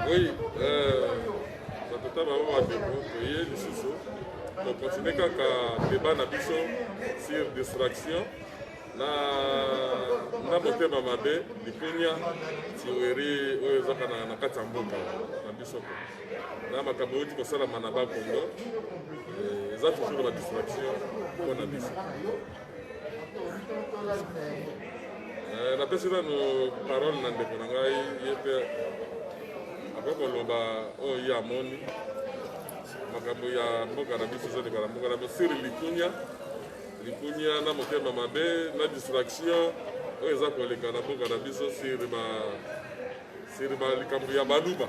Oui, euh, batata bango bandeko toye lisusu tokontinue kaka deba na biso sur distraction na na motema mabe likunya tiweri oyo ezaka na kati ya mboka na biso na makambo euti kosalama na bakongo eh, eza toujours na distraction mpo na biso Eh, napesi nanu parole na ndeko na ngai ye mpe akoki koloba oyo oh, ye amoni makambo ya mboka na biso ezoleka na mboka na biso siri likunya likunya na motema mabe na distraction oyo eza koleka na mboka na biso siri ba siri ba likambo ya baluba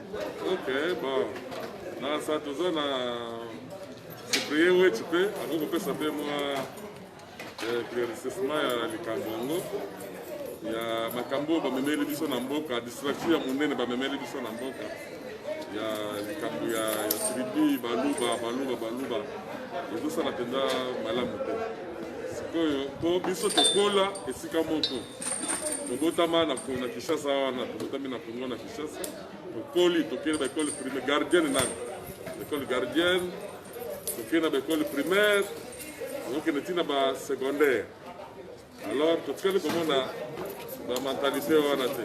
Ok, bon. Nasa toza na cyprien weti mpe akoki kopesa mpe mwa éclaircissement ya likambo yango ya makambo oyo bamemeli biso na mboka distraction ya monene bamemeli biso na mboka ya likambo ya tribi baluba baluba baluba ezosala mpenza malamu te sikoyo mpo biso tokola esika moko tobotama na kinshasa wana tobotami na kongo na tokoli tokei na baekole primaire gardienne nani ekole gardienne tokei na baekole primaire tokokende ntina ba secondaire alors totikali komona bamentalité wana te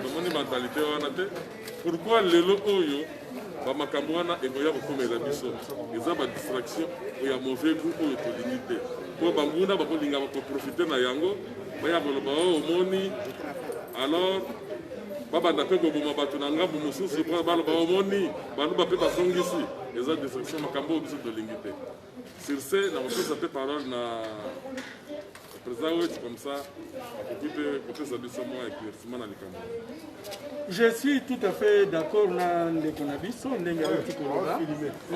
tomoni mentalité wana te pourquoi lelo oyo ba makambo wana ekoya kokomela biso eza ba distraction oyo ya mauvais goût oyo tolingi te mpo banguna bakolinga bakoprofite na yango baya koloba oyo oh, omoni alors babanda mpe koboma bato na ngambo mosusu mpo baloba omoni baluba mpe basongisi eza destruction makambo oyo biso tolingi te Sur ce, na kopesa mpe parole na président Wetshi comme ça akoki mpe kopesa biso mwa éclaircissement na likambo. Je suis tout à fait d'accord na ndeko na biso ndenge awuti koloba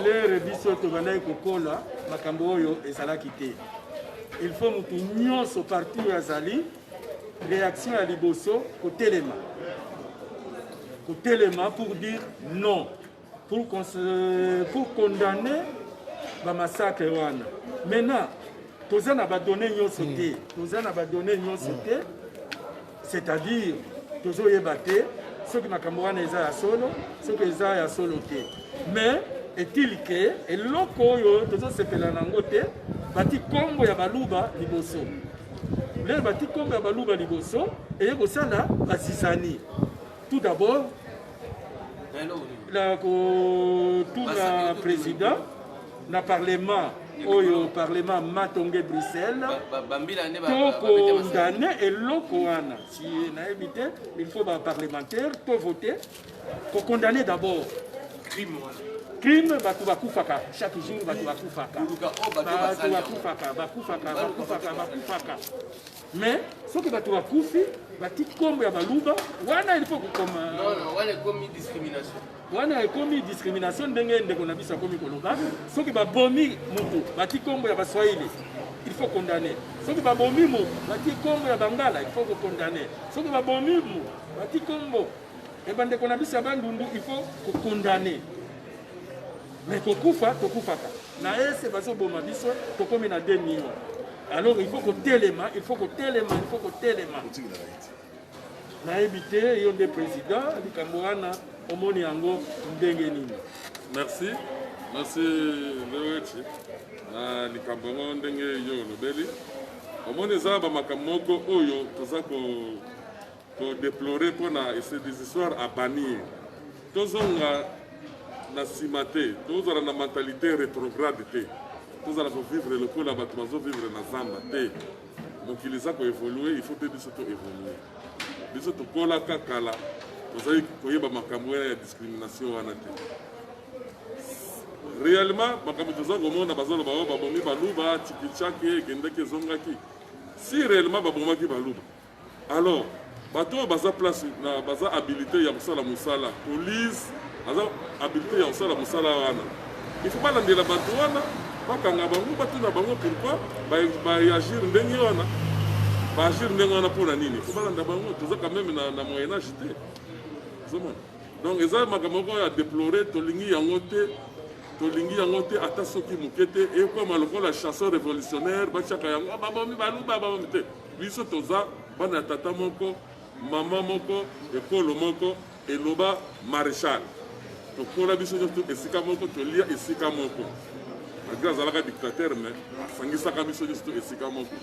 lere biso tobandaki kokola makambo oyo ezalaki te il faut motu nyonso parti oyo azali réaction ya liboso kotelema kotelema pour dire non pour, pour condamner ba massacre wana maintenant toza na badonne nyonso hmm. te toza na badonne nyonso hmm. te c'est-à-dire tozoyeba te soki makambo wana eza ya solo soki eza ya solo te mais est-il ke eloko oyo tozosepela na yango te bati nkombo ya baluba liboso lelo bati nkombo ya baluba liboso eye kosala basisani tout d'abord na kotuna président na parlement oyo parlement matonge bruxelles tokondane eloko wana si nayebi te il faut baparlementaire tovote kokondane d'abord crime wana crime bato bakufaka chaque jour bato bakufaka bato bakufaka bakufaka bakufaka bakufaka Mais soki bato bakufi bati kombo ya baluba wana ilifo kokoma wana ekomi discrimination wana ekomi discrimination ndenge ndeko na biso akomi koloba soki babomi motu bati kombo ya baswahili il faut condamner soki babomi mo bati kombo ya bangala il faut kokondamner soki babomi mo bati kombo ya bandeko na biso ya bandundu il faut kokondamner mais kokufa tokufaka na ese bazoboma biso tokomi na 2 million alors il faut kotelema il faut kotelema il faut kotelema nayebi te yo nde président likambo wana omoni yango ndenge nini merci merci leoeci na likambo yango ndenge yo olobeli omoni eza bamakambo moko oyo toza ko To deplorer mpo na ce des histoires à bannir. Tozonga na nsima te, tozala na mentalite retrograde te, tozala kovivre lokola bato bazovivre na zamba te. Mokili eza koevolue, il faut te biso toevolue. Biso tokolaka kala, tozali koyeba makambo wana ya discrimination wana te. Réellement, makambo toza komona bazoloba oyo oh, babomi baluba, tikichake, ekendeki ezongaki. Si réellement babomaki baluba, Alors, bato oyo baza place na baza habilite ya kosala mosala police aza habilite ya kosala mosala wana il faut balandela bato wana bakanga bango batuna bango pourquoi baagir ndenge wana baagir ndenge wana mpo na nini il faut balanda bango toza quand même na, na moyen age te ozomona donc eza makambo moko ya deplore tolingi yango te tolingi yango te ata soki moke te ekwama lokola chanson révolutionnaire batiaka yango ah, babomi baluba babomi te Biso toza bana ya tata moko, mama moko, ekolo moko, eloba Marechal. Tokola biso nyonso esika moko, tolia esika moko. Malgré azalaka dictateur mais asangisaka biso nyonso esika moko.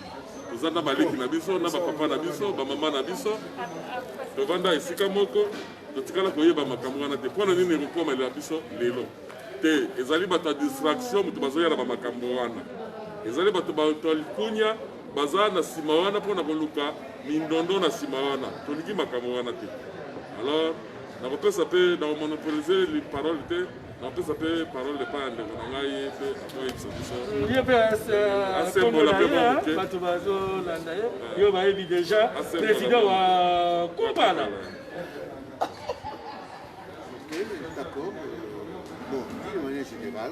Toza na baleki na biso, na bapapa na biso, bamama na biso. Tovanda esika moko, totikala koyeba makambo wana te. Mpo na nini ekokomela biso lelo? Te, ezali bato ya distraction moto bazoya na bamakambo wana. Ezali bato bato ya likunya baza na sima wana pona koluka mindondo na sima wana tolingi makambo wana te alors nakopesa mpe nakomonopolize parole te nakopesa mpe parole epai ya ndeko na ngai ye mpe akoyebisa bisoye mpe asembola mpe moke bato bazolanda ye yo bayebi deja président wa kobala D'accord. Bon, d'une manière générale,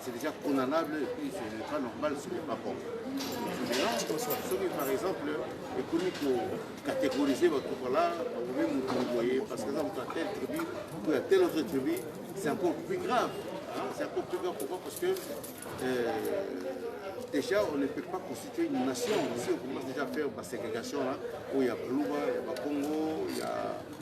C'est déjà condamnable et puis c'est pas normal ce n'est pas bon. Maintenant, soki par exemple ekomi kocategoriser bato vala bakomi motu boye parce que eza moto ya telle tribu ou ya telle autre tribu c'est encore plus grave c'est encore plus grave pourquoi parce que euh, déjà on ne peut pas constituer une nation si on commence déjà à faire baségrégation là oyo ya baluba ya bakongo ya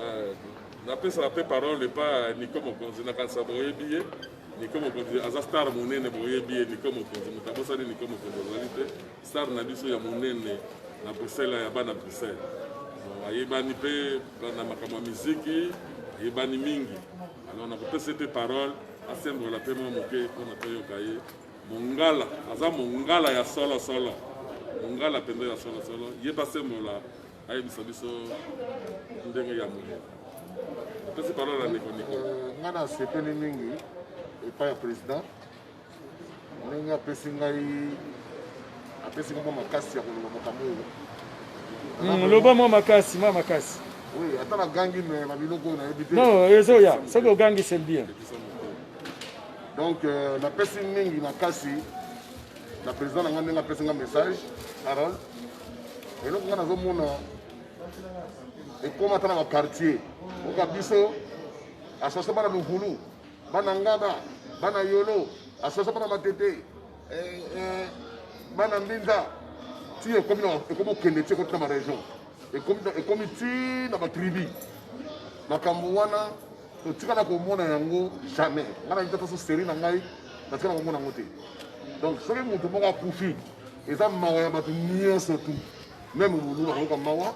Euh, napesaka mpe parole epa niko mokonzi nakanisa boyebi ye niko mokonzi aza star monene boyebi ye niko mokonzi moto abosani niko mokonzi azali te star na biso ya monene na bruxelles ya bana bruxelles ayebani mpe na makambo ya miziki ayebani mingi alors nakopesa ye mpe parole asembola mpe mwa moke mpona toyoka ye Mongala aza mongala ya solo solo, mongala mpenza ya solo solo. Yeba Semola ayebisa biso ndenge ya moye. Napesi parole ya ndeko Niko. Euh, ngai nasepeli mingi epai ya président ndenge apesi ngai apesi ngai mwa makasi ya koloba makambo oyo hmm, loba mwa makasi mwa makasi ata nagangi me na biloko oyo nayebi te non ezoya soki ogangi c'est bien donc euh, napesi mingi makasi na président na ngai ndenge apesi ngai message harold eloko ngai nazomona ekoma ata na baquartier oka biso asasa bana luvulu bana ngaba bana yolo asasa bana matete eh, eh, bana mbinza ti ekomi okende ti ekoti na baregion ekomi ti na batribu makambo wana totikala komona yango jamais ngai nayebi te faso seri na ngai natikala komona yango te donc soki moto moko akufi eza mawa ya bato nyonso tu meme molulu akoyoka mawa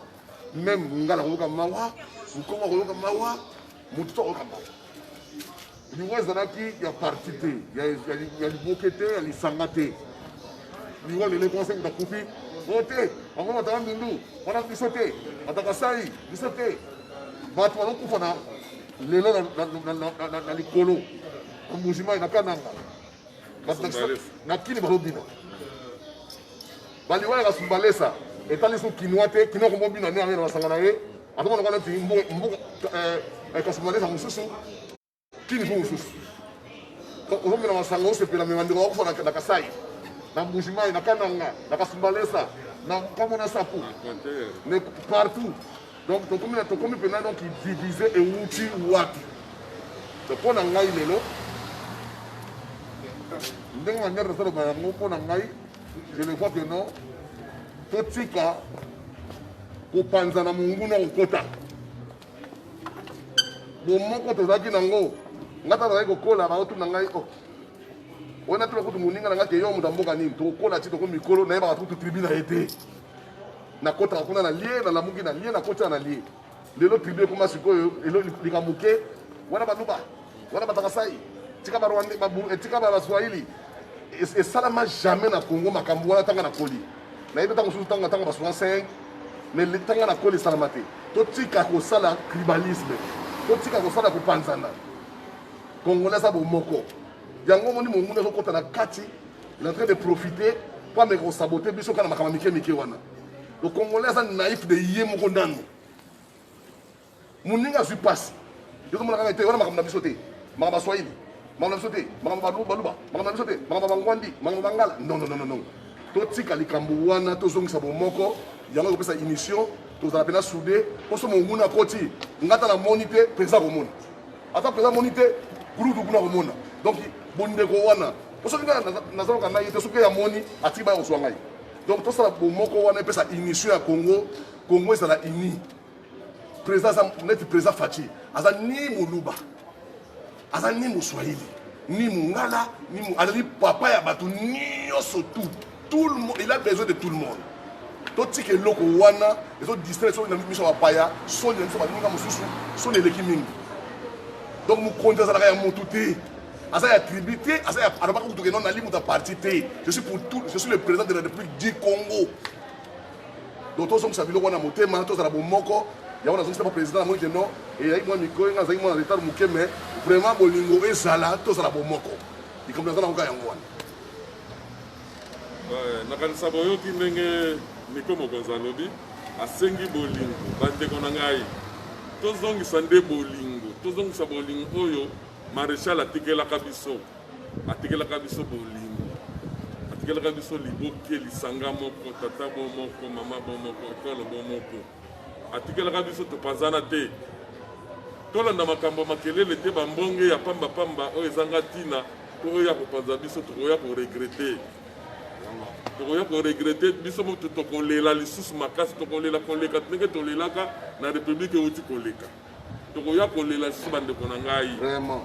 meme mongala akoyoka mawa mokongo akoyoka mawa moto to akoyoka mawa liwa ezalaki ya parti te ya liboke te ya lisanga te liwa lelo ekonse moto akufi o te bango bataka ndundu wana biso te bataka sai biso te bato bazokufa na lelo na likolo na mbujimayi na kananga na kini bazobina baliwa ya kasumbalesa etali so kinois te kinois komobina nde yango na basanga na ye azomonaka neti mbuka eh, eh, kasumbalesa mosusu kini mpo mosusu ozomela masanga osepela me bandeko bakufa na kasai na mbujimai na kananga na kasumbalesa na nkombo na saku mais partout donc tokomi na tokomi mpenza donc divise ewuti wapi donc mpo na ngai lelo ndenge manière tosaloba yango mpo na ngai je le vois que non totika kopanzana monguna kokota bomoko tozalaki nango ngai tata nazalaki kokola baotuna ngai o oh. wana tuna kutu moninga na ngai te yo moto ya mboka nini tokokola ti toko mikolo nayebaka kutu tribu na ye te nakotaka kuna na lie nalamuki na lie nakotaka na lie lelo tribu ekoma sikoyo likambo moke wana baluba wana batakasai tika barwande eh, tika baswahili esalama jamais na congo makambo wana ntanga na koli nayebi ntango mosusu ntango ntango baswa 5 mais ntanga na koli esalama te totika kosala tribalisme totika kosala kopanzana congolais aza bomoko yango omoni monguna ezokota na kati il est en train de profiter mpo ameka kosabote biso kaka na makambo mike mike wana le congolais aza naïf de ye moko nanu Muninga azwi pasi. Yo komona kaka te wana makambo na biso te. Makambo ya Swahili. Makambo na biso te. Makambo ya Baluba. Makambo na biso te. Makambo ya Bangwandi. Makambo ya Bangala. Non, non, non, non. Totika likambo wana tozongisa bomoko yango ekopesa émission tozala mpenza soude poso monguna akoti ngata na moni te mpenza komona ata mpenza moni te gulutu kuna komona donc bondeko wana po soki ngai nazalaka ngai te soki yamoni atiki baya kozwa ngai donc tosala bomoko wana epesa émission ya congo congo ezala uni Président aza neti président Fatshi aza ni muluba aza ni muswahili ni mungala ni mu... azali papa ya bato nyonso tout tout le monde il a besoin de tout le monde totika eloko wana ezo distraire soki na miso ya bapaya soni na biso baninga mosusu soni eleki mingi donc mokonzi azalaka ya motu te aza ya tribu te aza ya alobaka kutu ke non nali moto ya parti te je suis pour tout je suis le président de la république du congo donc tozongisa biloko wana motema tozala bomoko yango nazongisa ba président namoni ke non eyaki mwa mikolo nga azalaki mwana retard moke mais vraiment bolingo ezala tozala bomoko likambo naza nangoka yango wana nakanisa boyoki ndenge niko mokonzi alobi asengi bolingo bandeko na ngai tozongisa nde bolingo tozongisa bolingo oyo maréchal atikelaka biso atikelaka biso bolingo atikelaka biso liboke lisanga moko tata bo moko mama bo moko ekolo bo moko atikelaka biso topanzana te tolanda makambo makelele te bambonge ya pambapamba oyo ezanga ntina to oyo ya kopanza biso tokoya koregrete tokoya koregrete biso moto tokolela lisusu makasi tokolela koleka ndenge tolelaka na republike euti koleka tokoya kolela lisusu bandeko na ngai vraiment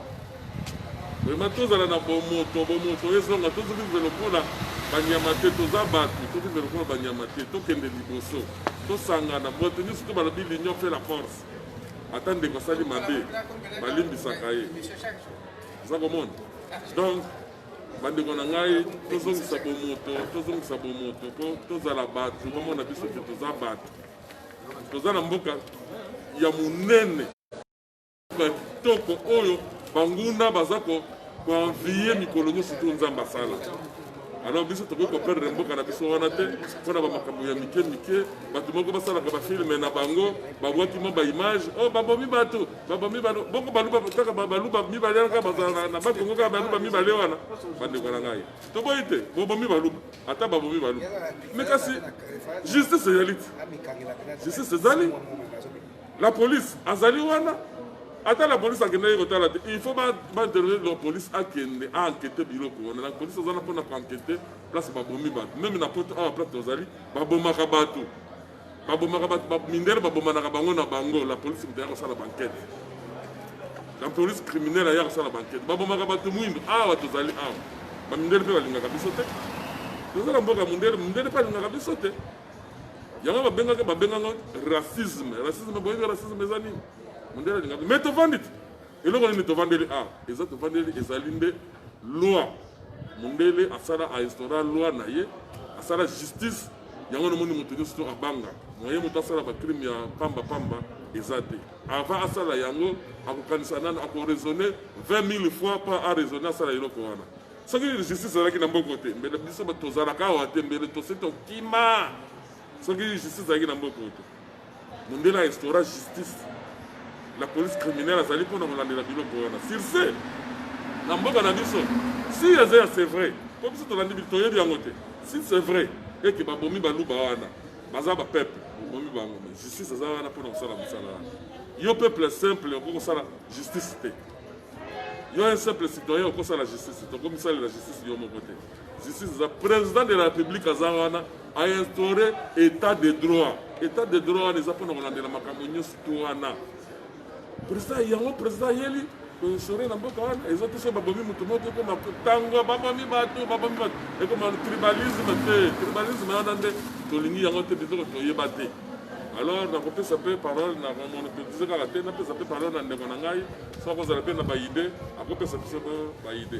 vraiment tozala na bomoto bomoto ezonga tozovive lokola banyama te toza bato tovive lokola banyama te tokende liboso tosangana bato nyonso to balobi l'union fait la force ata ndeko asali mabe balimbisaka ye oza komona donc bandeko na ngai tozongisa bomoto tozongisa bomoto mpo tozala bato bamona biso te toza bato toza na mboka ya monene ya kitoko oyo banguna baza koenvie mikolo nyonso to nzambe asala alors biso tokoki koperdre mboka na biso wana te mpo na bamakambo ya mike mike bato moko basalaka bafilme na bango babwaki mwa baimage o oh, babomi bato babomi bato bongo baluba kaka baluba mibale wana kaka bazala na bakongo kaka baluba mibale wana bandeko na ngai toboyi te bobomi baluba ata babomi baluba me kasi justice ezali te justice ezali la police azali wana ata la police akendaki kotala te il faut baintervenir la police akende aenkete biloko wana la police aza na mpona koankete place babomi bato meme na poto awa place tozali babomaka bato babomaka bato ba, mindele babomanaka bango na bango la police moto ya kosala bankete la police criminele aya kosala bankete babomaka bato mwindo awa tozali awa bamindele mpe balingaka biso te tozala mboka mondele mondele mpe alingaka biso te yango babengaka babengaka racisme racisme boyebi racisme eza nini mondele alingaka me tovandi te eloko nini tovandeli awa ah, eza tovandeli ezali nde loi mondele asala ainstaura loi na ye asala justice yango namoni moto nyonso to abanga moye moto asala bacrime ya pamba pamba eza te avant asala yango akokanisa nano akoraisonne 20 000 fois mpo araisonne asala eloko wana soki justice ezalaki na mboko te mbele biso tozalaka awa te mbele tosi tokima soki justice ezalaki na mboko te Mundele a instaura justice la police criminelle azali mpo na kolandela biloko wana surce na mboka na biso si eza ya c'est vrai mpo biso tolandi toyebi yango te si c'est vrai eke babomi baluba wana baza bapeuple bobomi bango me justice aza wana mpo na kosala mosala wana yo peuple simple okoki kosala justice te yo un simple citoyen okosala justice tokomisalela justice yo moko te Justice eza president de la republique aza wana a instaure etat de droit etat de droit wana eza mpona kolandela makambo nyonso to wana president yango president ayeli koinstaure na mboka wana eza te so babomi moto moko ekoma ntango babomi bato babomi bato ekoma tribalisme te tribalisme wana nde tolingi yango te biloko toyeba te alors nakopesa mpe parole na monopolise kaka te napesa mpe parole na ndeko na ngai soki akozala mpe na baide akopesa biso baide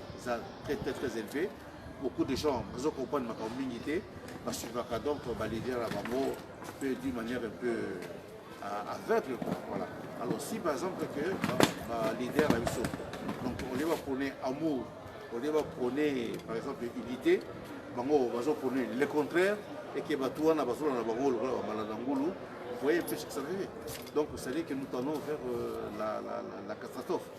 eza très très très élevé beaucoup de gens bazo comprendre makambo mingi te basuivaka donc baleader na bango mpe d'une manière un peu euh, aveugle voilà alors si par exemple que baleader na biso donc olie bapone amour olie bapone par exemple unité bango bazo pone le contraire eke bato wana bazola na bango lokola bambala na ngulu voyez un peu ce que ça veut dire donc c'est à dire que nous tendons vers euh, la, la, la, la catastrophe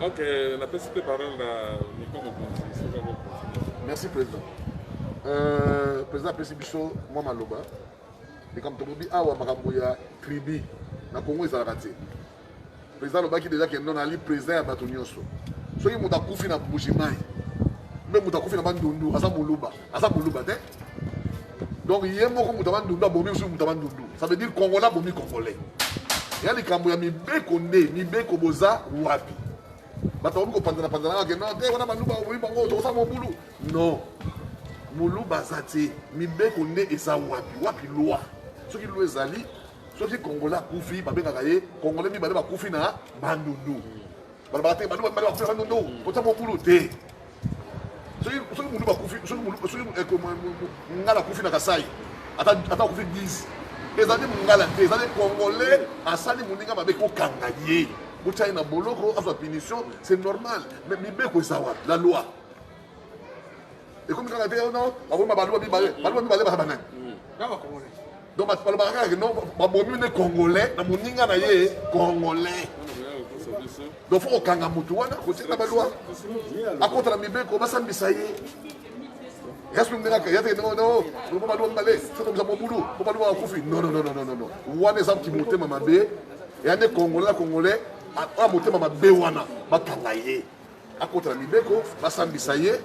Ok, la peste de parole à Nico Mokonzi, c'est pas bon. Merci président. Euh, président apesi biso mwa maloba likambo tolobi awa makambo ya tribu na congo ezalaka te président alobaki deja kendo nali président ya bato nyonso soki moto akufi na bujimai mpe moto akufi na bandundu aza moluba aza moluba te donc ye moko moto ya bandundu abomi mosusu moto ya bandundu ça veut dire congolais abomi congolais ya likambo ya mibeko nde mibeko boza wapi bato bakomi kopanzana panzana kake non te wana baluba babomi bango tokosa mobulu non moluba aza te mibeko nde eza wapi wapi loi soki loi ezali soki congolais akufi babengaka ye congolais mibale bakufi na bandundu balobaka te bandundu bakufi na bandundu kota mobulu te soki soki mutu bakufi soki mutu soki eh, mungala akufi na kasai ata ata akufi 10 ezali mungala te ezali congolais asali moninga mabe kokanga ye botia ye na boloko azwa punition c'est normal mais mibeko eza wapi la loi ekomi kaka te ono bakoma baluba mibale baluba mibale baza banani donc bato balobaka kaka no babomi nde congolais na moninga na ye congolais donc fo kokanga motu wana kotika balwa akota na mibeko basambisa ye yesu ndengaka yate ndenge no lobo balwa mbale sokomisa mobulu po balwa akufi non non non non non wana eza kimotema mabe ya nde congolais na congolais oya motema mabe wana bakanga ye akota na mibeko basambisa ye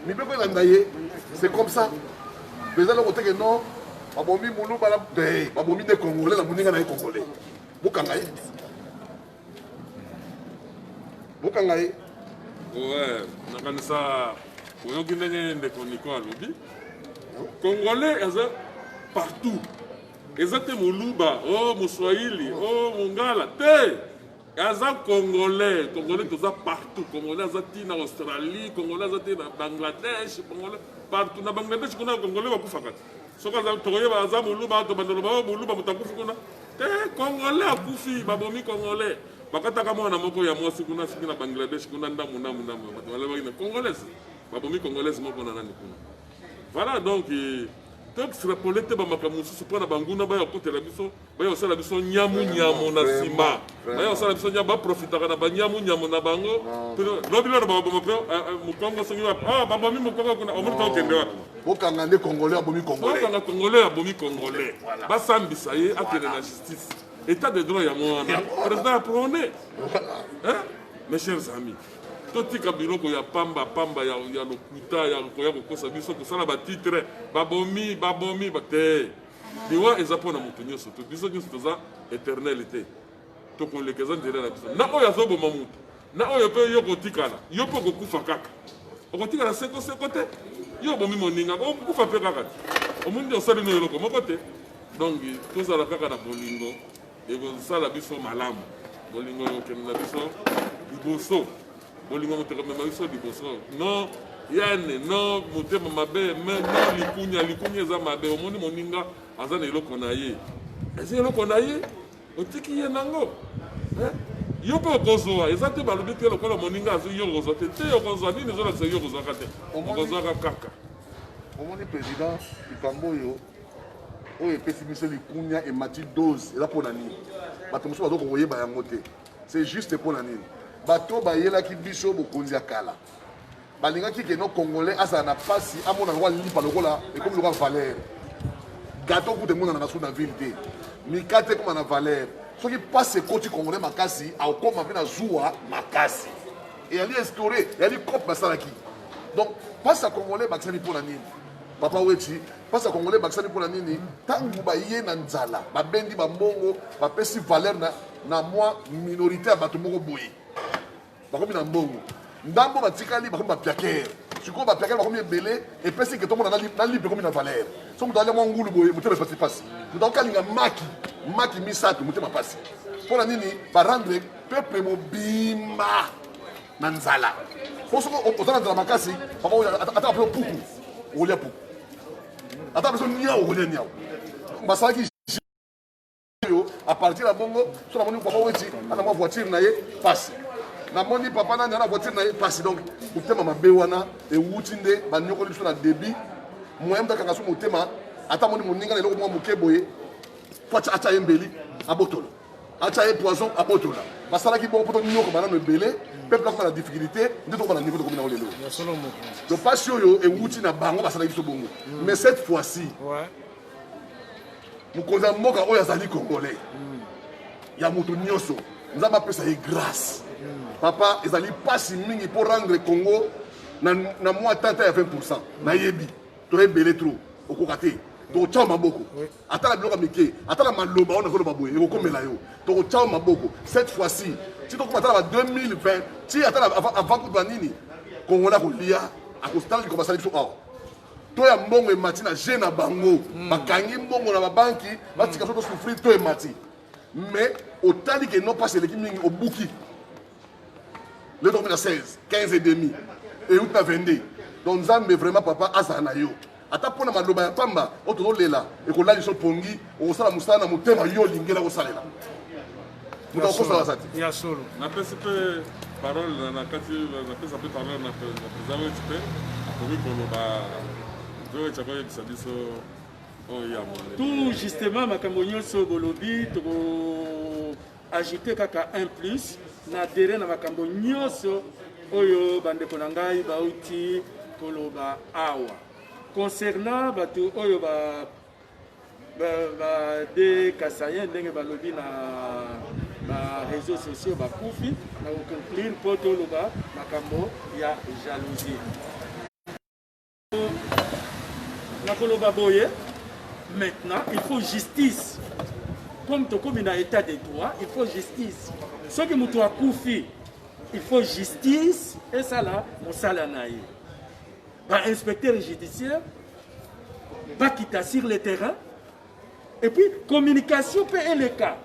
mibeko elanda ye c'est comme ça eza loko teke non babomi muluba na be babomi nde congolais na moninga na ye congolais bokanga ye bokanga ye oe nakanisa oyoki ndenge ndeko niko alobi congolais aza partout eza te moluba o oh, moswahili o oh, mongala te Aza congolais, congolais toza partout, congolais aza ti na Australie, congolais aza ti na Bangladesh, congolais partout na Bangladesh kuna congolais bakufaka te. Soki aza tokoyeba aza muluba to bandolo ba muluba mutakufi kuna. Te congolais akufi babomi congolais. Bakataka mwana moko ya mwasi kuna siki na Bangladesh kuna ndamu ndamu ndamu bato balebaki na congolaise. Babomi congolaise moko na nani kuna. Voilà donc eh, toextrapole te bamakambo mosusu mpo na banguna bayo akotela biso baya kosala biso nyamu nyamu na nsima baya kosala biso nyamu baprofitaka na banyamu nyamu na bango lobi lona baboma mpe mokongo soki wapi ah, babomi mokongo kuna omoni ta okende wapi bokanga nde congolais abomi congolaisbokanga congolais abomi congolais basambisa ye akende na justice état de droit yango wana président ya prone mes chers amis totika biloko ya pamba pamba ya, ya lokuta ya koya kokosa biso kosala batitre babomi babomi te liwa eza mpo na moto nyonso te biso nyonso toza éternel te tokoleka eza nzela na biso na oyo azoboma moto na oyo mpe yo kotikala yo mpe okokufa kaka okotikala seko seko te yo obomi moninga okokufa mpe kaka te omoni osali na eloko moko te donc tozala kaka na bolingo ekozosala biso malamu bolingo ekokende na biso liboso bolingo moto ekomema biso liboso no yane no motema mabe me no likunya likunya eza mabe omoni moninga aza na eloko na ye eza eloko na ye otiki ye nango eh? yo mpe okozwa eza te balobi te lokola moninga azwi yo okozwa te te okozwa nini ezolakisa yo okozwaka te okozwaka kaka omoni président likambo oyo oyo epesi biso likunya emati dose eza mpo na nini bato mosusu bazoka koyeba yango te c'est juste mpo na nini bato bayelaki biso bokonzi ya kala balingaki keno congolais azala na mpasi amona lokola lipa lokola ekomi lokola valeur gato kuta emonanaka su na ville te mikate ekoma na valeur soki mpasi ekoti congolais makasi akokoma mpe na zuwa makasi eyali instaure eyali cope basalaki donc mpasi ya congolais bakisani mpo na nini Papa Wetshi, pasi ya Congolais ebakisami mpo na nini? Ntango baye na nzala babendi bambongo, bapesi valeur na, na mwa minorite ya bato moko boye, bakomi na mbongo. Ndambo batikali bakomi bapiakere. Sikoyo bapiakere bakomi ebele, epesi ke tomona na lipe ekomi na valeur. So moto alya mwa ngulu boye, motema epasi pasi. Moto akokalinga maki, maki misato, motema pasi. Mpo na nini barendre peuple mobimba na nzala po soki oza na nzala makasi papa ata apre puku okolia puku ata apre so niau okolia niau basalaki oyo apartir ya bongo so namoni papa weti ana mwa voiture na ye pasi namoni papa nani ana voiture na ye pasi donc motema mabe wana ewuti nde banyokoli biso na debit moyen moto akanga so motema ata moni moninga na eloko mwa moke boye po atya ye mbeli abotolo atia ye poison abotola basalaki bongo mpo tonyoko banano ebele peuple akoma na difficulté nde tokoma na niveau tokomi nango lelo to mpasi oyo ewuti na bango basalaki biso bongo mm. mais cette fois ci mokonzi ya mboka oyo azali congolais mm. ya moto nyonso nzambe apesa ye grâce mm. papa ezali mpasi mingi mpo rendre congo na mwa tata ya 20 pourcent nayebi toyebele trop okoka te tokotya maboko ata na biloko ya mike ata na maloba oyo nazoloba boye ekokomela yo tokotya maboko cette fois ci ti tokoma ata na ba 2020 ti ata avant kutu nini kongola kolia akostala likambo asali biso awa to ya mbongo emati na je na bango hmm. bakangi mbongo na babanki batika biso tosouffrir to emati mais otali ke non pas eleki mingi obuki lelo tokomi na 16 15 et demi euti na 22 donc nzambe vraiment papa azala na yo ata mpo na maloba ya pamba oyo tozolela ekolali biso pongi okosala mosala na motema yo olingela kosalela moto akokosa baza te ya solo napesi mpe parole na kati napesa mpe parole na président weti mpe akomi koloba weti akoyebisa biso oyo ya tout justement makambo nyonso bolobi toko Ajoute kaka un plus na adere na makambo nyonso oyo bandeko na ngai bauti koloba awa concernant bato oyo ba bade kasayen ndenge balobi na bareseau sociaux bakufi na koconclure mpo toloba makambo ya jalousie nakoloba boye maintenant il faut justice comme tokomi na état de droit il faut justice soki moto akufi il faut justice esala mosala na ye bainspecteur judiciaire bakita sur le terrain et puis communication mpe eleka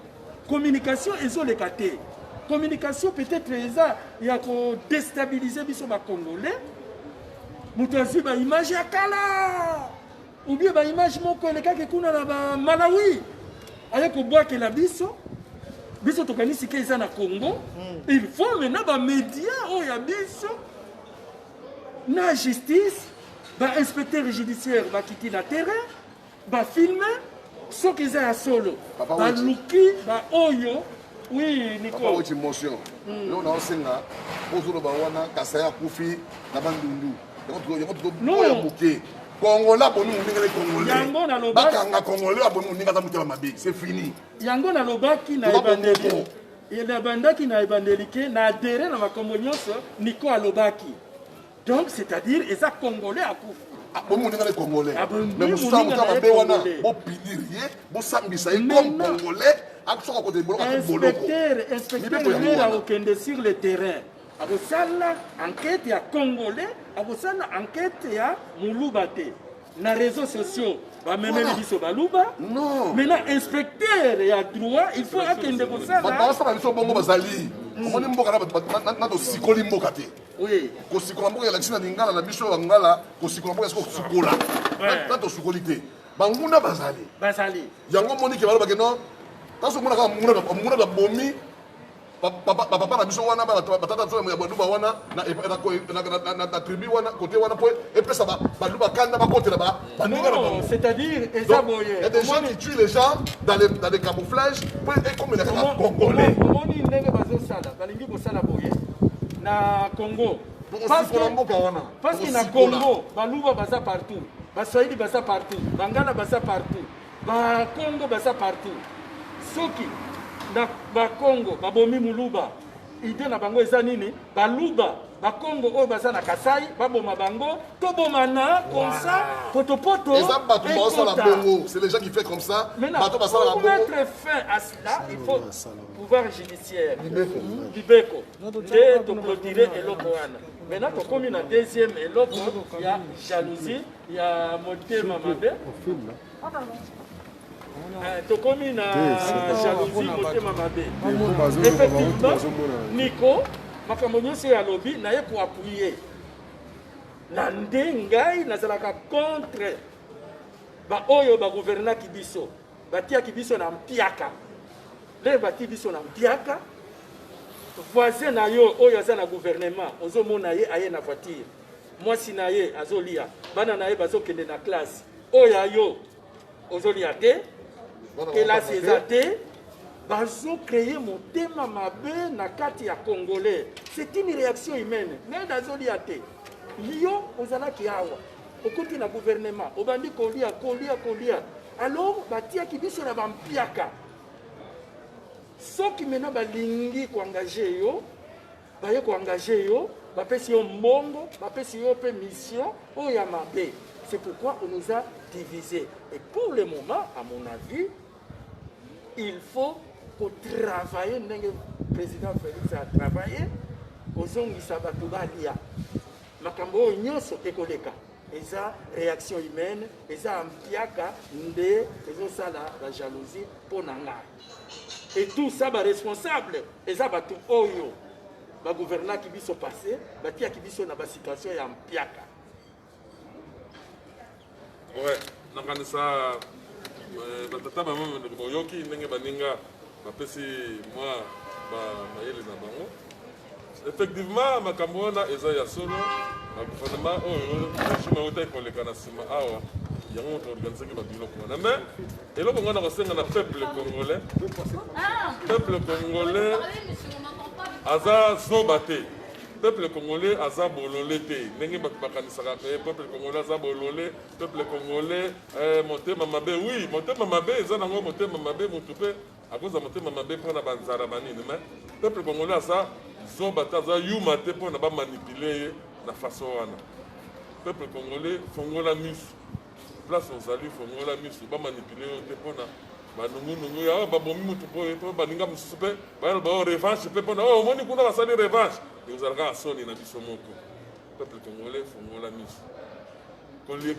communication ezoleka te communication peut-être eza ya kodestabilize biso bacongolais moto azwi baimage ya kala oubien baimage moko elekaki kuna na bamalawi aye kobwakela biso biso tokanisi ke eza na congo hmm. il faut mena bamedia oyo ya biso na justice bainspecteur judiciaire bakiti na terrain Ba filme soki eza ya solo baluki baoyo oui niko emotion hmm. yo naosenga ozoloba wana kasa ya kufi na bandundu yango tukoya moke kongola boni moninga le kongole bakanga kongole aboni moninga aza motema mabe c'est fini yango nalobaki na ebandeli nabandaki na ebandeli ke na adere na makambo nyonso niko alobaki Donc c'est à dire eza congolais akufi. Ah, bo moninga le congolais. Ah, Mais musuta muta mabe wana bo pinir ye, bo sambisa ye comme congolais. Akosoka kote boloko ko boloko. Inspecteur, inspecteur mera okende sur le terrain. Akosala enquête ya congolais, akosala enquête ya muluba te. Na réseaux sociaux bamemeli biso baluba maintenant inspecteur ya droit il faut akende kosala baosala biso bongo bazali omoni mboka na tosikoli mboka te Oui. kosikola mboka elakisi na lingala na biso ya bangala kosikola mboka esiko kosukola Eh. na tosukoli te banguna bazali bazali yango moni ke balobake no kasi omona kaka munguna ka- munguna kabomi ba- papa ba- papa na biso wana ba- ba- batata biso ya baluba wana na- na- na- na- na tribu wana kote wana mpo epesa ba- baluba kanda bakotela ba- Non, c'est-à-dire, et ça, bon, il y a des gens qui tuent les gens dans les, dans les camouflages, pour être comme les Congolais. Comment il n'est pas au Sala, dans les Nibo Sala Boye, na Congo. Parce que na Congo, Baluba baza partout, Baswahili baza partout, Bangala baza partout, Bakongo baza partout. Soki, na Bakongo, Babomi Muluba, Idee na bango eza nini? Baluba bakongo oyo baza na kasai baboma bango tobomana comme ça potopoto eza bato baosala bongo c'est les gens qui fait comme ça bato basalaka bongo mettre fin à cela il faut pouvoir judiciaire libeko nde toclotire eloko wana maintenant tokomi na deuxième eloko ya jalousie ya motema mabe Eh, tokomi na jalousie motema mabe effectivement niko makambo nyonso oyo alobi naye koappuye na nde ngai nazalaka contre baoyo bagouvernaki biso batiaki biso na mpiaka nde batii biso na mpiaka voisin na yo oyo aza na gouvernement ozomona ye aye na voiture mwasi na ye azolia bana na ye bazokende na classe oyo ayo ozolia te kelasi eza te bazo créer motema mabe na kati ya congolais c'est une réaction humaine ned azolia te yo ozalaki awa okoti na gouvernement obandi kolia kolia kolia alors batiaki biso na bampiaka soki mena balingi koengage yo baye ko engage yo bapesi yo mbongo bapesi yo mpe mission oyo ya mabe c'est pourquoi on nous a divisé et pour le moment à mon avis il faut kotravaille ndenge président félix atravaille kozongisa bato balia makambo oyo nyonso ekoleka eza réaction humaine eza mpiaka nde ezosala la jalousie mpo na ngai Et tout ça ba responsable eza batu oyo ba gouvernaki biso passé batiaki biso na ba situation ya mpiaka. Ouais, nakanisa euh, batata mama boyoki ndenge baninga bapesi mwa mayele na bango Effectivement, makambo wana eza ya solo na gouvernement oyo regime autaki koleka na nsima awa yango moto organisaki babiloko wana mais eloko ngai nakosenga na peuple congolais peuple congolais aza zoba te peuple congolais aza bolole te ndenge bato bakanisaka te peuple congolais aza bolole peuple congolais eh, motema mabe oui motema mabe eza nango motema mabe motu mpe Akoza motema mabe mpo na ba nzala ba nini mais peuple congolais aza zoba te aza yuma te mpo na ba manipuler ye na façon wana peuple congolais fongola misu place ozali fongola misu ba manipuler yo te mpo na banungunungu ya babomi motu boye mpo baninga mosusu mpe bayaloba o oh, revanche mpe mpo na oyo oh, omoni kuna basali revanche ekozala kaka soni na biso moko peuple congolais fongola miso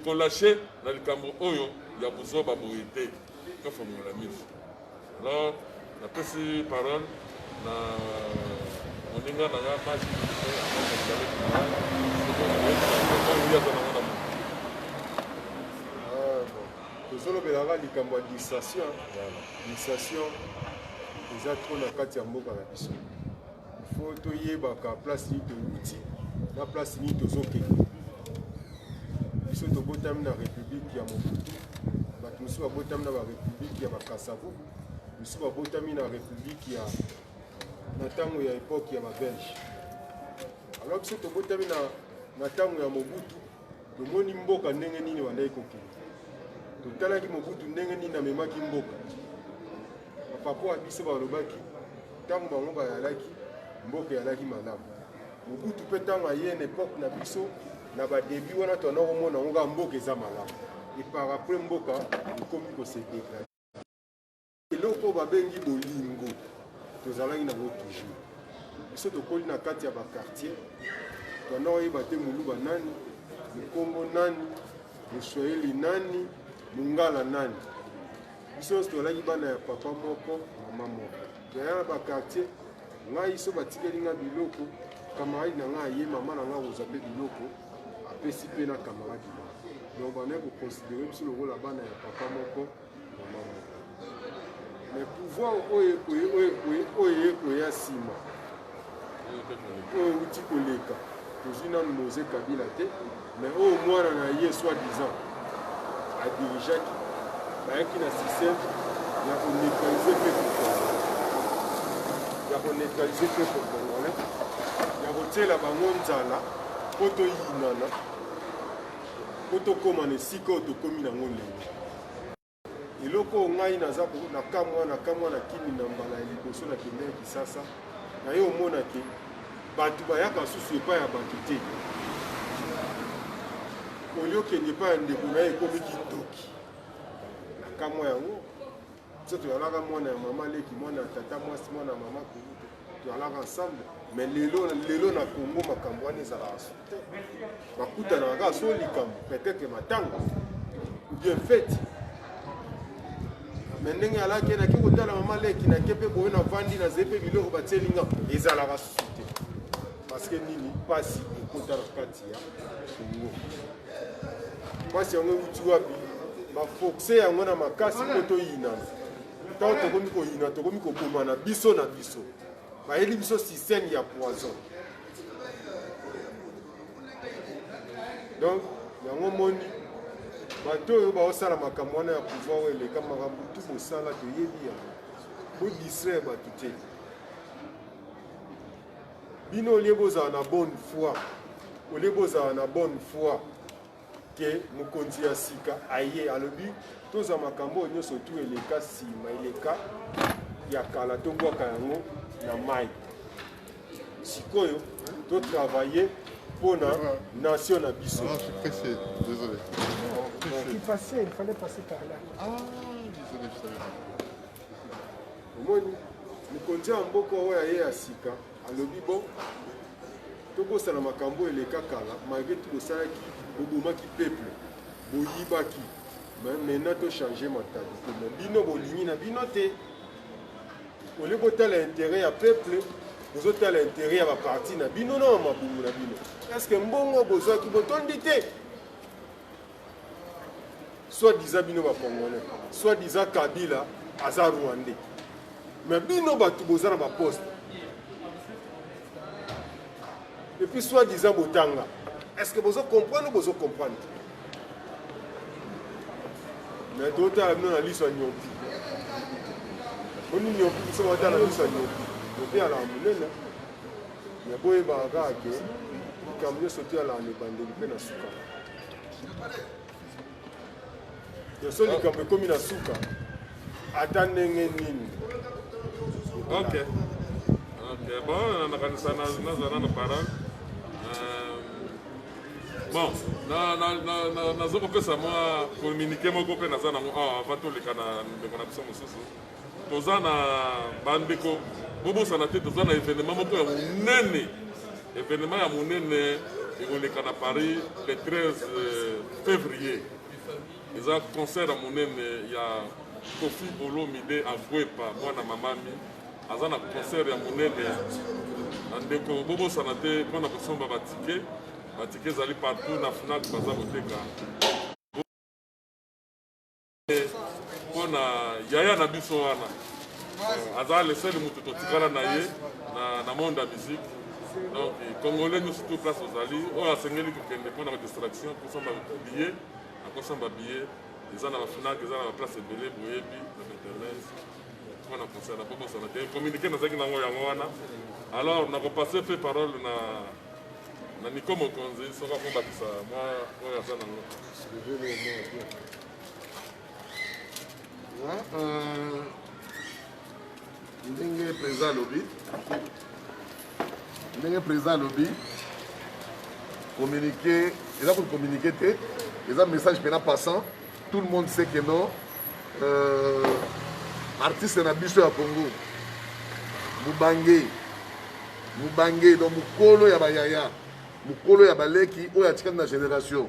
kolashe na likambo oyo ya buzoba boye te Tofongola miso. Alors, napesi parole na moninga na nga Maki tozolobelaka likambo ya distraction distraction eza trop na kati ya mboka na biso fo toyebaka place nini towuti na place nini tozokende biso tobotami na république ya mobutu bato mosusu babotami na barépublique ya bakasavo mosusu babotami na république ya na ntango ya époque ya babelge alors biso tobotami na na ntango ya mobutu tomoni mboka ndenge nini bandaki kokende totalaki mobutu ndenge nini amemaki mboka Bapapa wa biso balobaki ntango bango bayalaki, mboka eyalaki malamu. Mobutu mpe ntango aye na epoke na biso na badebi wana toanda komona yango kaka mboka eza malamu epar apres mboka ekomi kosedegrade eloko oyo babengi bolingo tozalaki nango toujours biso tokoli na kati ya bakartier toanda koyeba te moluba nani mokongo nani moswahili nani mongala nani biso nyonso tozalaki bana ya papa moko mama moko toya na bakartier ngai so batikeli ngai biloko kamaradi na ngai aye mama na ngai akozwa mpe biloko apesi mpe na kamaradi na donc bandaki koconsidere biso lokola bana ya papa moko mama moko mais pouvoir oyo ekoye oyo ekoye oyo ekoya nsima oyo euti koleka tozwi nanu moise kabila te mais oyo mwana na ye soit disant adirigeaki bayaki na système ya koneutralize peuple congolais ya koneutralize peuple congolais ya kotyela bango nzala mpo toyinana mpo tokóma na esika oyo tokómi nango lelo eloko oyo ngai naza na kamwa na kamwa na kimi na mbala ya liboso na kende ya kisasa na ye omona ke bato bayaka susu epai ya bato te olio kende epai ya ndeko na ye ekomi kindoki na kamwa yango biso toyalaka mwana ya mama leki mwana ya tata mwasi mwana ya mama kulutu Tozalaka ensemble mais lelo lelo na Congo makambo wana ezalaka su te. Bakutanaka kaka so likambo peut-être matanga ou bien fete me ndenge alaki nake kotala mama leki nake mpe boye navandi nazali mpe biloko batieli nga ezalaka susu te parceke nini mpasi ekota na kati ya kongo mpasi yango euti wapi bafoxe yango na makasi mpo toyinana ntango tokomi koyina tokomi kobomana biso na biso bayeli biso système ya poison donc yango moni bato oyo baosala makambo wana ya pouvoir oyo eleka makambo tu bosala toyebi yango bodistraire bato te bino olie bozala na bonne foi olie bozala na bonne foi ke mokonzi ya sika aye alobi tozwa makambo oyo nyonso tu eleka nsima eleka ya kala tobwaka yango na mai sikoyo totravaille mpo na nation na biso ah, ah, omoni mokonzi ya mboka oyo aye ya sika Alobi bon tobosana makambo oyo eleka kala malgre tout bosalaki bobomaki peuple boyibaki mais maintenant to changer mentalité mais bino bolingi na bino te olie botala intérêt ya peuple bozotala intérêt ya baparti na bino na bamabumu na bino est ce que mbongo bozwaki botondi te soit disant bino ba congolais soit disant kabila aza rwandais mais bino bato boza na baposte epuis soit disant botanga est ce que bozo comprendre bozo comprendre mais totala bino na liso ya nyompi oni nyompi biso batala na liso ya nyompi nyompi alaa monene mais boyebaka kaka ke likambo nyonso te alaa na ebandeli mpe na suka yoso likambo ekomi na suka ata ndenge nini ok ok bon nakanisa naza nano parole euh, bon naza kopesa mwa communiqué moko mpe naza nango awa ah, avant toleka na ndeko na biso mosusu Toza na bandeko bobosana te toza na evenema moko ya monene evenema ya monene ekoleka na paris le 13 euh, février eza concert ya monene ya kofi olomide agwepa mwana mamami aza na concert ya monene na ndeko bobosana te mpo na kosomba batike batike ezali partout na fnac baza koteka mpo na yaya na biso wana euh, aza lesele moto totikala na ye na monde ya musique donc congolais nyonso tout place ozali oyo asengeli kokende mpo na badistraction kosomba billet akosomba billet eza na bafinake eza na baplace ebele boyebi na internet mpo na concert na bobosana te communiqué nazalaki nango yango wana alors nakopasse mpe parole na na niko mokonzi soki akobakisa mwa oyo aza nango ndenge président alobi ndenge président alobi communiqué eza kocommuniqué te eza message mpena passant tout le monde sait que non euh, artiste na biso ya congo mobange mobange donc mokolo ya bayaya mokolo ya baleki oyo atikali na génération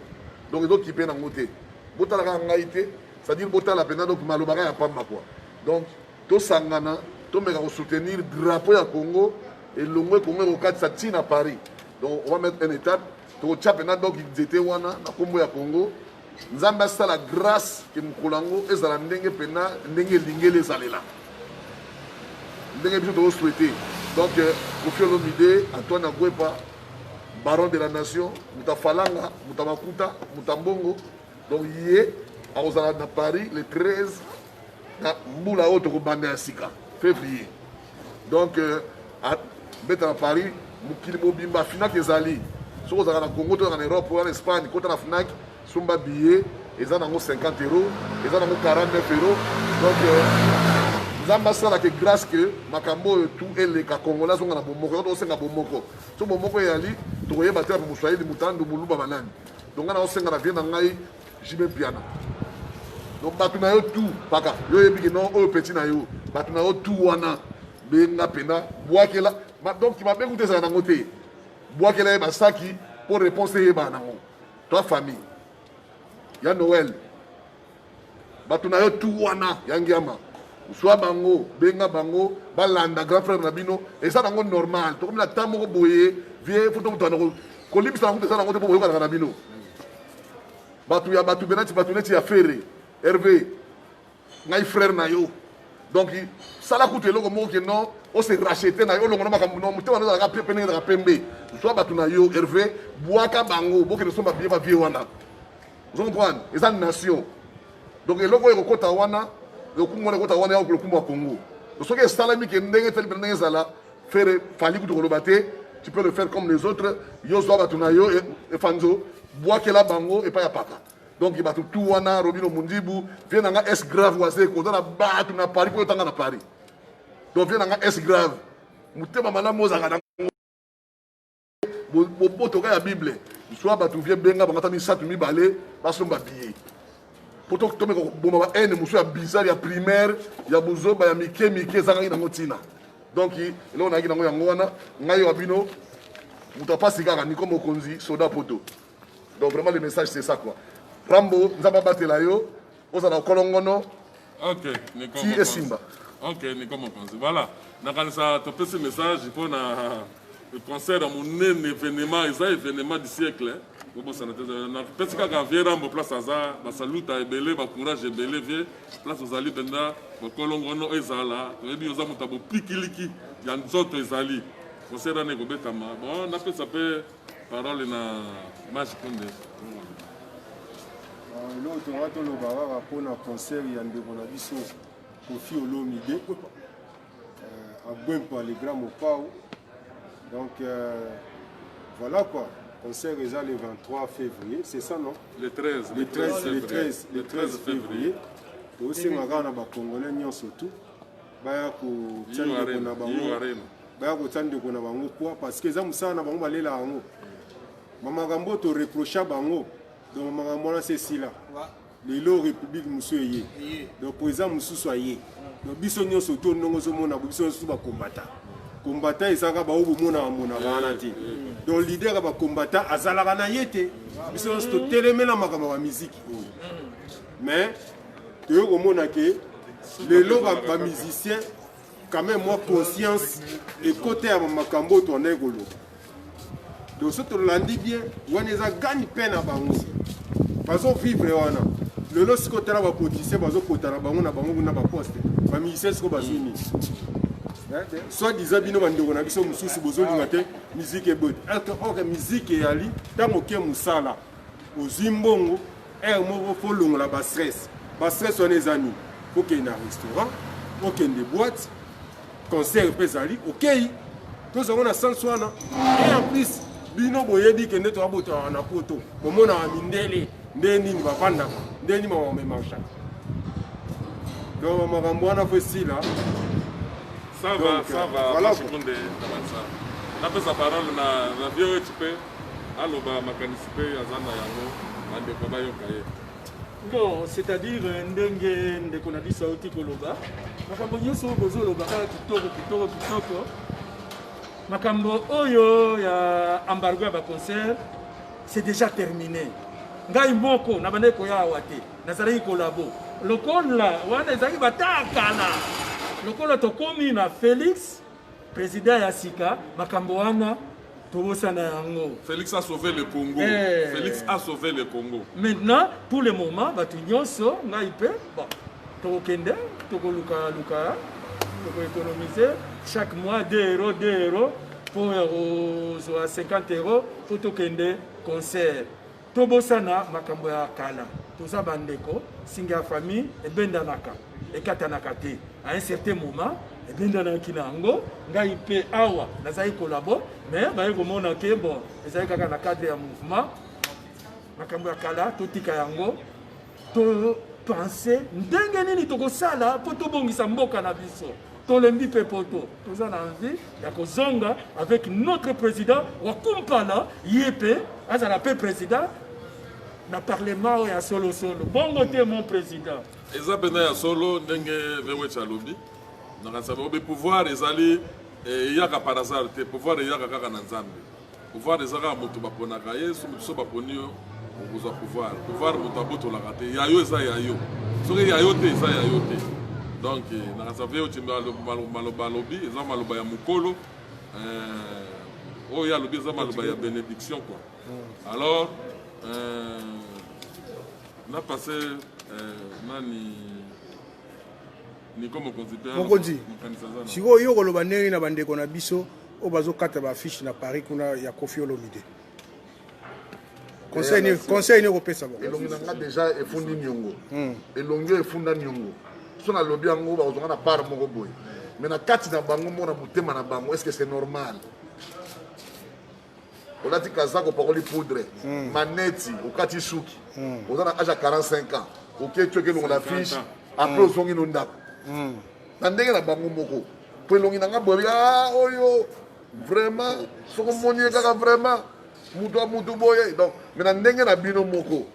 donc ezokipe nango te botala kaka ngai te c'est-à-dire botala mpenza donc maloba kaka ya pamba kua donc tosangana tomeka kosoutenir drapeau ya congo elongwe congo ekokatisa ti na paris donc on va mettre un étape tokotya mpenza donc nzete wana na nkombo ya congo nzambe asala grâce ke mokolo yango ezala ndenge mpenza ndenge elingeli ezalela ndenge biso tokosouhaite donc euh, kofi olomide antoine agwepa baron de la nation moto ya falanga moto ya makuta moto ya mbongo donc ye akozala na paris le 13 na mbula oyo tokobanda ya sika février donc euh, abeta na paris mokili mobimba finaki ezali soki ozalaka na congo to na europe oya na espagne kota na fnac Somba billet eza nango 50 euros, eza nango 49 euros. Donc euh, Nzambe asala que grâce que makambo oyo tout eleka Congolais azonga na bomoko. Yango tosenga bomoko. So bomoko eyali tokoyeba te Moswahili, Mutandu, Muluba banani. Donc nga naosenga na vie na ngai Jibe Mpiana. Donc bato na yo tout paka yo oyebi ke non oyo petit na yo bato na yo tout wana benga mpena bwakela donc mabe kuta ezala nango te bwakela ye basaki mpo réponse eyebana nango Toi famille ya Noël bato na yo tu wana ya ngiama zwa bango benga bango balanda grand frère na bino eza nango normal tokomi na temps moko boye vie fo tokutana kolimbisa nango eza nango te mpo boyokanaka na bino bato ya bato benati bato neti ya fere herve ngai frère na yo donc sala kutu eloko moko ke non ose rachete na yo olongo na makambo no motema nozalaka pe pene ezalaka pembe zwa bato na yo herve bwaka bango bokende somba biye bavie wana ozo comprendre eza nation donc eloko oyo ekokota wana lokumu wana ekota wana yako lokumu ya congo soki esalami ke ndenge etali pena ndenge ezala fere fali kutu koloba te tu peux le faire comme les autres yo zwa bato na yo efanzo bwakela bango epai ya paka donc bato tu wana robino mundibu vie na nga es grave wazeko oza na bato na paris mpo otanga na paris donc vie na nga es grave motema malamu ozalaka na bobotoka ya bible zwa bato vie benga bango ata misato mibale basomba biye mpo tomeka koboma ba haine mosusu ya bizarre ya primaire ya buzoba ya mike mike ezangaki nango ntina donc eloko nayaki nango yango wana ngai wa bino moto apasi kaka niko mokonzi soda poto Donc vraiment le message c'est ça quoi. Rambo nzambe abatela yo ozala kolongono. OK, Nico. Ti esimba. OK, Nico Mokonzi. Voilà. Nakanisa topesi message mpo na le concert ya monene événement eza événement du siècle. Bobosana te napesi kaka vieux Rambo place aza basaluta ebele bacourage ebele vieux place ozali mpenza bokolongono ezala toyebi oza moto ya bopikiliki ya nzoto ezali concert wana ekobetama bon napesa mpe Parole na Mas Kundes. Ah, eloko tokoka toloba kaka mpona concert ya ndeko na biso kofi olomide euh, agwempa le grand mopao donc euh, voilà quoi concert eza le 23 février c'est ça non le 13 le 13 le 13 le 13 février tosenga kaka na bacongolais nyonso tout baya kotya ndeko na bango baya kotya ndeko na bango poa parce que eza mosala na bango balela yango bamakambo oyo toreprocha bango donc makambo wana se esila lelo république mosusu eye donc président mosusu aye donc biso nyonso to ndongo ozomona biso nyonso bakombata kombata ezalaka baoyo bomonaka monaka wana te donc leader ya bakombata azalaka na ye te biso nyonso totelemela makambo ya bamiziki oyo mais toye komona ke lelo bamusicien quand même mwa conscience ekota ya makambo oyo toandaki koloba donc so tolandi bien wana eza gani mpe na bango bazovivre wana lelo sikoyo tala bapoliticien bazokota na bango na bango kuna baposte bamusicien sikoyo bazwi nini soit disant bino bandeko na biso mosusu bozolinga te miziki eboyi or miziki eyali ntango oke mosala ozwi mbongo Heure moko faut longola ba stress. Ba stress wana eza nini? Faut kende na restaurant, okende boîte, concert mpe ezali, okei. Tozango na sens wana. Et en plus, bino boyebi kende to abota na poto. Bomona wa mindele nde nini bavandaka, nde nini bamamemaka. Donc makambo wana faut esila. Ça va, ça va. Voilà. Mashukundé, ça va ça. Napesa parole na na vieux Chipe. aloba makanisi mpe aza na yango bandeko bayoka ye bon c'est-à-dire euh, ndenge ndeko na biso auti koloba makambo nyonso oyo bozoloba kaka kitoko kitoko kitoko makambo oyo ya embargo ya baconcert c'est déjà terminé ngai moko nabandaki koya awa te nazalaki kolabo lokola wana ezalaki bataa kala lokola tokomi na félix President ya sika makambo wana tobosana yango. Felix a sauvé le Congo. Eh. Felix a sauvé le Congo. Maintenant pour le moment bato nyonso ngai mpe bon tokokende tokoluka luka tokoekonomise chaque mois 2 euro 2 euro mpo ya kozwa 50 euro mpo tokende concert Tobosana makambo ya kala, toza bandeko, singa ya famille ebendanaka, ekatanaka te. À un certain moment, ebendanaki na yango, ngai mpe awa nazali kolabo, mais baye komona ke bon, ezali kaka na cadre ya mouvement, makambo ya kala totika yango. To penser ndenge nini tokosala mpo tobongisa mboka na biso. Tolembi mpe poto. Toza na envie ya kozonga avec notre président wa Kumpala ye mpe azala mpe président na parlement oyo ya solo solo. Bongo te mon président. Eza mpenza ya solo ndenge Vewech alobi. Nakasa bobe pouvoir ezali eyaka par hasard te pouvoir eyaka kaka na Nzambe. pouvoir eza kaka moto baponaka ye so moto so baponi yo okozwa pouvoir pouvoir moto abotolaka te ya yo eza ya yo soki ya yo te eza ya yo te donc eh, nakasave oti maloba alobi eza maloba ya mokolo eh, oyo alobi eza maloba ya bénédiction quoi hmm. alors eh, na passe nani mokonzi sikoyo yo okoloba ndenge na bandeko na biso oyo bazokata baaffiche na paris kuna ya kofi olomide conseil nini conseil nini okopesa bango elongi na nga deja efundi niongo hmm. elongi oyo efunda niongo so nalobi yango bakozonga na part moko boye mais na kati na bango mona motema na bango est ce que c'est normal olati kazaka opakoli poudre hmm. maneti okati suki hmm. oza na age ya 45 ans oketi oke elongo na fiche apres hmm. ozongi no ndako na ndenge na bango moko po elongi na nga boyebi ah, oyo vraiment soki omoni ye kaka vraiment moto ya motu boye donc me na ndenge na bino moko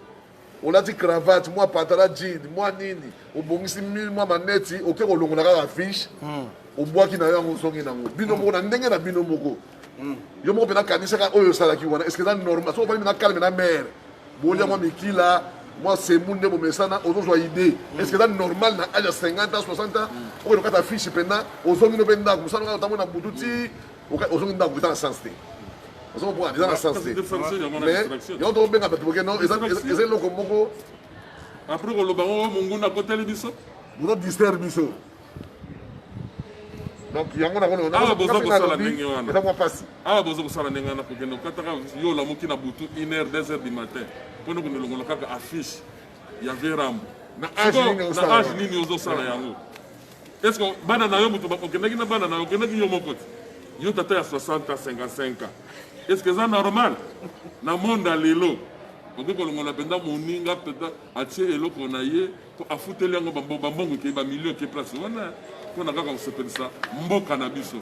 olati cravate mwa patala jean mwa nini obongisi mil mwa maneti oke kolongola kaka fiche hmm. obwaki na yo yango ozongi nango bino moko na ndenge na bino moko hmm. yo moko mpe nakanisaka oyo osalaki wana eske eza normal soki ofandi na calme na mare bolia mwa mikila mwa semu nde bomesana ozozwa idee hmm. eske eza normal na age ya 50 ans 60 ans oyo lokata fiche mpena ozongi no mpe ndako mosala kaka otambo na butu ti ozongi ndako eza na sens te ozomona eza na sens te mais yango tokobenga bato boke no eza eloko moko apres koloba ngo monguna akoteli biso bozo distraire biso donc yango nakoawa boza kosala ndenge wana awa boza kosala ndenge wana kokende kokataka yo olamuki na butu 1 heure 2 heure du matin mpona kondelongola kaka affiche ya verambo na age nini ozosala yango Est-ce que bana na yo moto okendaki na bana na yo okendaki yo moko te yo tata ya 60 ans 55 ans est-ce que eza normal na monde ya lelo okoki kolongola mpenza moninga mpenza atie eloko na ye mpo afuteli yango bambongo ekei bamilio eke place wana mpo na kaka kosepelisa mboka na biso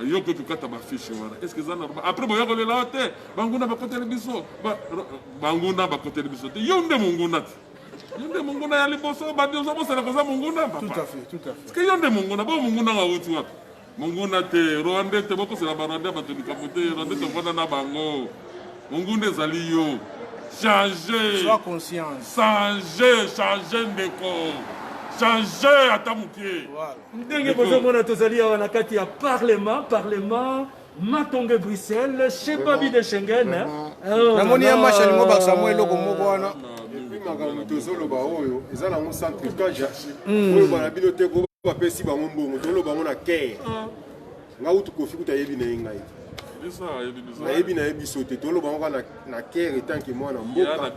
yo okoki kokata bafishe wana est ce que eza normal après boya kolela yo te banguna bakoteli biso banguna bakoteli biso te yo nde monguna te yo nde monguna ya liboso bandi oza bosana koza monguna papa yo nde monguna bo monguna nga wuti wapi monguna te rwande te bokosela barwande bato likambo te rwande tofanda na bango monguna ezali yo change change change ndeko change ata moke ndenge bozomona tozali awa na kati ya parlement parlement Matonge Bruxelles, chez Babi de Schengen. Oh, Namoni ya macha lingo bakisa mwa eloko moko wana. makambo tozoloba oyo eza nango sans trucage hmm. oyo bana bino te ko bapesi bango mbongo toloba yango na care ah. nga utu kofi kuta yebi na ye ngai nayebi na ye biso te toloba yango kaka na care etanke mwana mboka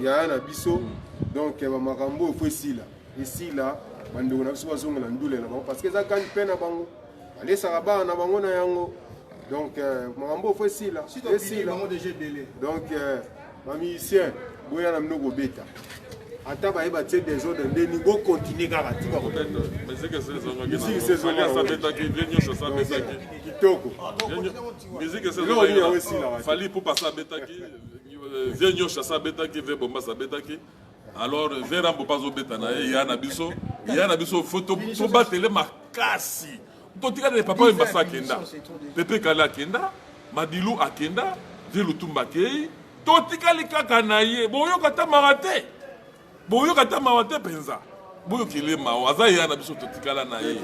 yaya na biso hmm. donc eh, bamakambo oyo fo esila esila bandeko na biso bazongela ndule na bango parce que eza gani mpe na bango balesaka bana na bango na yango donc euh, makambo ofo esila esila donc euh, bamusicien boya na bino kobeta ata baye batie desordre nde ningo continue kaka tika kitokofali pupa sa abetaki vie nyonso asa abetaki vie bombas abetaki alors vera mbopa azobeta na ye ya na biso ya na biso fo tobatele makasi totikala papa oyo mbasa akenda pepe kale akenda madilu akenda vie lutumba akei totikali kaka na ye boyoka ata mawa te boyoka ata mawa te mpenza boyokele mawa aza ya na biso totikala na ye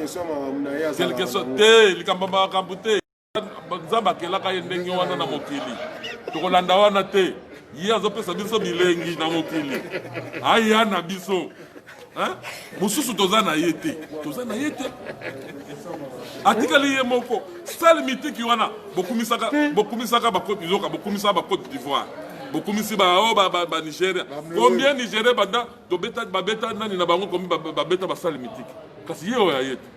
te likambo makambo te nzambe akelaka ye ndenge wana na mokili tokolanda wana te ye azopesa biso bilengi na mokili aya na biso mosusu toza na ye te toza na ye te atikali ye moko sale mitiki wana bokumisaka bokumisaka bakoti yoka bokumisaka bakoti d'ivoire bokumisi baoyo banigeria combien nigeria banda babeta nani na bango komi babeta basale mitiki kasi ye oyo aye te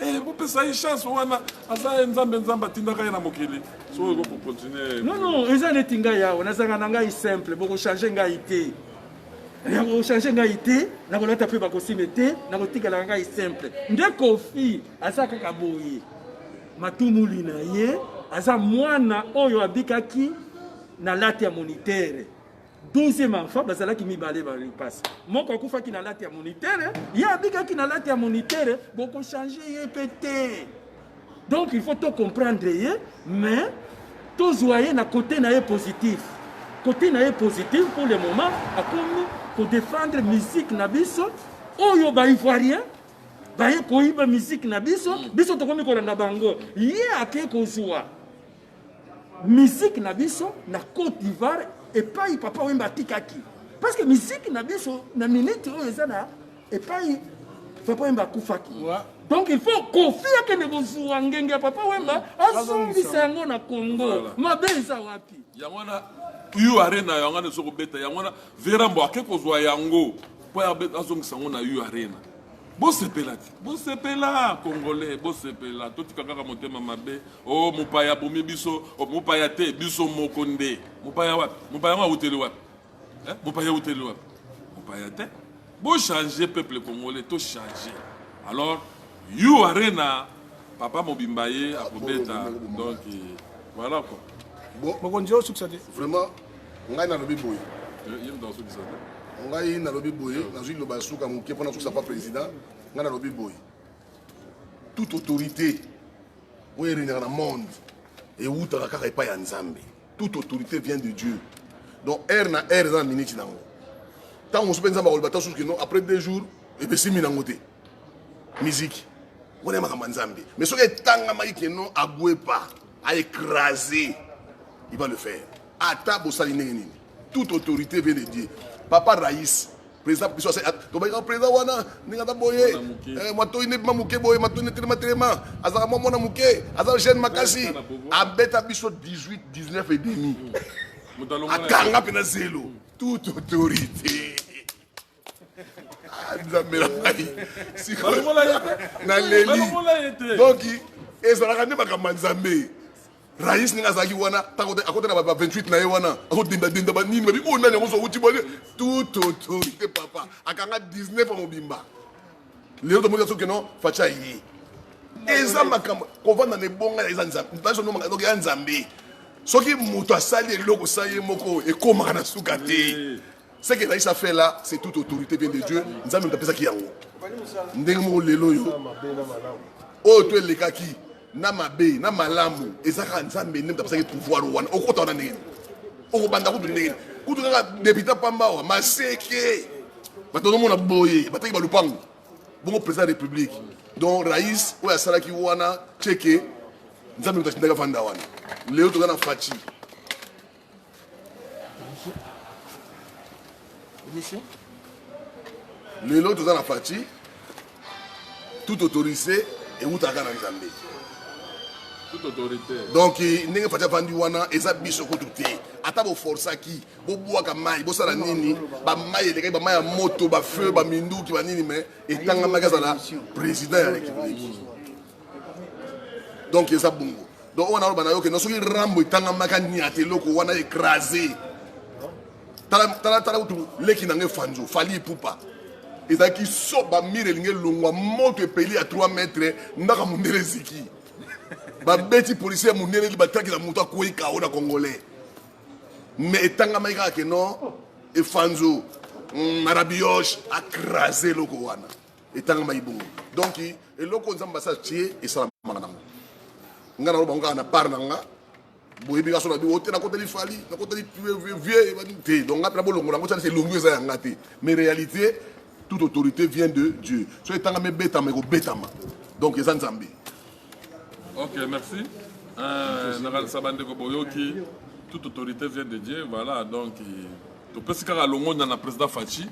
Eh, bopesa ye chance wana aza ye nzambe nzambe atindaka ye na mokili soki eko kocontinue non non eza neti ngai awa nazanga na ngai simple bokochange ngai te nakochange ngai te nakolata mpe bakosime te nakotikalaka ngai simple nde kofi aza kaka boye matumuli na ye aza mwana oyo abikaki na lati ya monitere Deuxième enfant bazalaki mibale ba lipasa moko akufaki na late ya monitere ye abikaki na late ya monitere bokochange ye mpe te donc il faut tocomprendre ye mais tozwa ye na kote na ye positif kote na ye positif pour le moment akomi kodefendre musique na biso oyo baivoirien baye koyiba musique na biso biso tokomi kolanda bango ye ake kozwa Musique na biso na Cote d'Ivoire epai Papa Wemba atikaki. Parce que musique na biso na minute oyo eza na epai Papa Wemba akufaki. Ouais. donc il faut kofi akende kozwa ngenge ya papa wemba azongisa yango na congo mabe eza wapi yango wana u arena yango wana ezo kobeta yango wana verambo ake kozwa yango mpo azongisa yango na u arena bosepela te bosepela congolais bosepela totika kaka motema mabe Oh mopaya abomi biso, oh, mopaya te, biso moko nde. Mopaya wapi? Mopaya yango awuteli wapi? Eh? Mopaya awuteli wapi? Mopaya te. Bo changer peuple congolais, to changer. Alors, you arena, papa mobimba ye akobeta. Donc eh, voilà quoi. Bon, mokonzi yo sukisa te. Vraiment, ngai nalobi boye. Eh, ye moto asukisa te. Ngai nalobi boye, nazwi liloba ya suka moke mpo nasukisa pa président. Ngai nalobi boye. Toute autorité oyo eregnaka na monde ewutaka kaka epai ya nzambe toute autorité vient de dieu donc heure na heure eza na miniti nango ntango mosusu mpe nzambe akoloba ta susu kino après deux jours epesimi nango te miziki wana ya makambo ya nzambe mais soki etangamaki kino agwepa aecrase il va le faire ata bosali ndenge nini toute autorité veut le dire papa rais président biso tobaki kaka président wana ndenge aza boye eh, matoi nde bima moke boye matoi nde telema telema azalaka mwa mwana moke aza jeune makasi abeta biso 18 19 et demi akanga mpe na zelo toute autorité Ah, nzambe na ngai naleli donc ezalaka nde makambo ya nzambe rais ndenge azalaki wana akota na ba 28 na ye wana akodendadenda banini babi oyo oh, nani yango zouti bone tout autorité papa akanga 19 ya mobimba lelo tomoni ya soki no faci aye eza makambo kovanda na ebonga ya eza nzambe ya nzambe soki moto asali eloko sa ye moko ekomaka na suka te Ce que Raïs a fait là, c'est toute autorité vient de Dieu. Nzambe moto apesaki yango. Ndenge moko lelo oyo oyo to elekaki na mabe na malamu ezaka Nzambe nde moto apesaki pouvoir wana okota wana ndenge okobanda kutu ndenge kutu kaka deputa pamba awa maseke bato bazomona boye bataki balupango bongo président ya république donc Raïs oyo asalaki wana ceke Nzambe moto atindaki afanda wana lelo toza na faci lelo toza na faci tout autorisé ewutaka na nzambe donc ndenge faci avandi wana eza biso kutu te ata boforsaki bobwaka mai bosala nini bamai elekaki bamai ya moto bafeu baminduki banini mai etangamaki azala président ya république donc eza bongo donc oyo naloba na yo keno soki rambo etangamaka niata eloko wana écrase talatala kutu leki na ngai fanzo fali ipupa ezalaki so bamire elingi elongwa moto epeli ya 3 mètre ndaka mondele eziki babeti policier ya mondele li bataki na moto akwei kao na congolais mais etangamaki kaka keno efanzo mm, marabioche akrase eloko wana etangamaki bongo donc eloko nzambe asa tie esalamaka nango ngai naloba ngo kaka na part na nga boyebi nga so na bino te nakoteli fali nakoteli vieux te donc ngai mpena bolongola yango tialisa elongi eza ya nga te mais réalité toute autorité vient de dieu soki etangami ebetama ekobetama donc eza nzambe Ok, merci. Euh, nakanisa bandeko boyoki toute autorité vient de Dieu voilà donc topesi kaka longonya na président Fatshi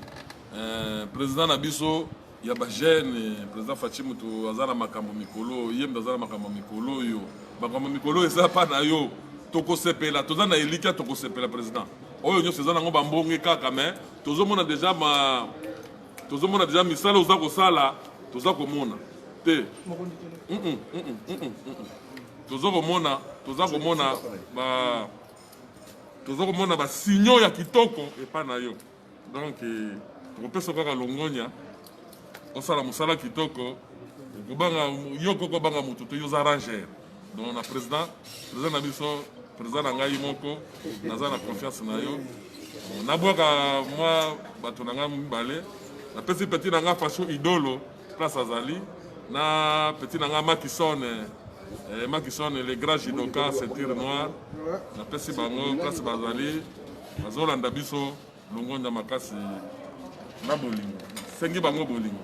euh, président na biso ya bajeune président Fatshi moto aza na makambo mikolo ye moto aza na makambo mikolo oyo makambo mikolo eza pa na yo tokosepela toza na elikya tokosepela président oyo nyonso eza nango bambonge kaka mais tozomona déjà ma tozomona deja misala oza kosala toza komona te toza komona toza komona ba toza komona basigno ya kitoko epai na yo donc eh, tokopesa kaka longonya osala mosala kitoko okobanga yo koko obanga moto te yo oza ranger donc na président président na biso président na ngai moko naza na confiance na yo nabwaka mwa bato na ngai mibale napesi petit na ngai fasho idolo place azali na petit na ngai makisone eh, makisone le grand jidoka ceinture noire napesi bango place bazali bazolanda biso longonda makasi na bolingo sengi bango bolingo